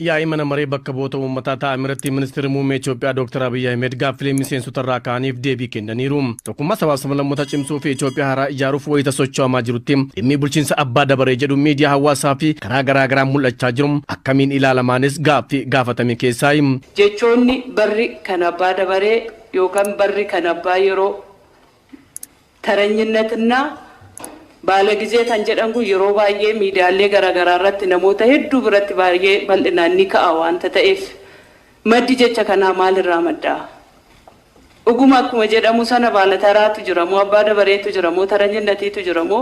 Yaa'ii Mana Maree Bakka Bu'oota Uummataa taa'amerratti Ministirri Muummee Itiyoophiyaa Dooktar Abiy Ahimed gaaffilee miseensota irraa ka'aniif deebii kennaniiru. Tokkummaa sabaaf sablammootaa cimsuu fi Itiyoophiyaa haaraa ijaaruuf wayita socho'amaa jirutti dhimmi bulchiinsa abbaa dabaree jedhu miidiyaa hawaasaa fi karaa garaa garaan mul'achaa jiru akkamiin ilaalamaanis gaaffii gaafatame keessaayi. Jechoonni barri kan abbaa dabaree yookan barri kan abbaa yeroo. Taranyinnatinna baalagize kan jedhan kun yeroo baay'ee miidiyaalee garaagaraa irratti namoota hedduu biratti baay'ee bal'inaan ni ka'a waanta ta'eef maddi jecha kanaa maal irraa madda? Dhuguma akkuma jedhamu sana baalataraatu jira moo abbaa dabareetu jira moo taranyinnatiitu jira moo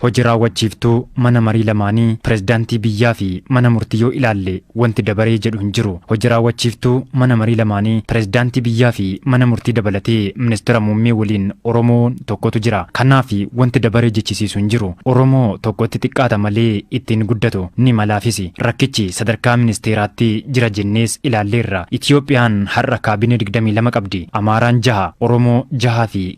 Hoji raawwachiiftuu mana marii lamaanii, pirezidaantii biyyaa fi mana murtii yoo ilaalle wanti dabaree jedhu hin jiru. Hoji raawwachiiftuu mana marii lamaanii, pirezidaantii biyyaa fi mana murtii dabalatee ministira muummee waliin Oromoon tokkotu jira. Kanaaf wanti dabaree jechisiisu hin jiru. Oromoo tokkotti xiqqaata malee itti hin guddatu. Ni malaafisi. Rakkichi sadarkaa ministeeraatti jira jennees ilaalleerra. Itiyoophiyaan har'a kaabinee 22 qabdi. Amaaraan jaha, Oromoo jahaa fi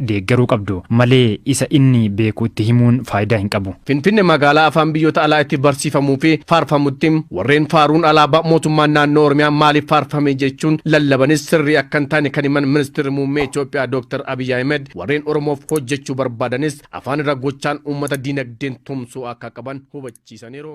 deeggaruu qabdu malee isa inni beeku itti himuun faayidaa hin qabu. Finfinne magaalaa afaan biyyoota alaa itti barsiifamuu fi faarfamutti warreen faaruun alaabaa mootummaan naannoo Oromiyaa maaliif faarfame jechuun lallabanis sirrii akka hin taane kan himan Ministirri Muummee Itoophiyaa Dooktar Abiy Ahimed warreen Oromoof hojjechuu barbaadanis afaan irra gochaan uummata diinagdeen tumsuu akka qaban hubachiisaniiru.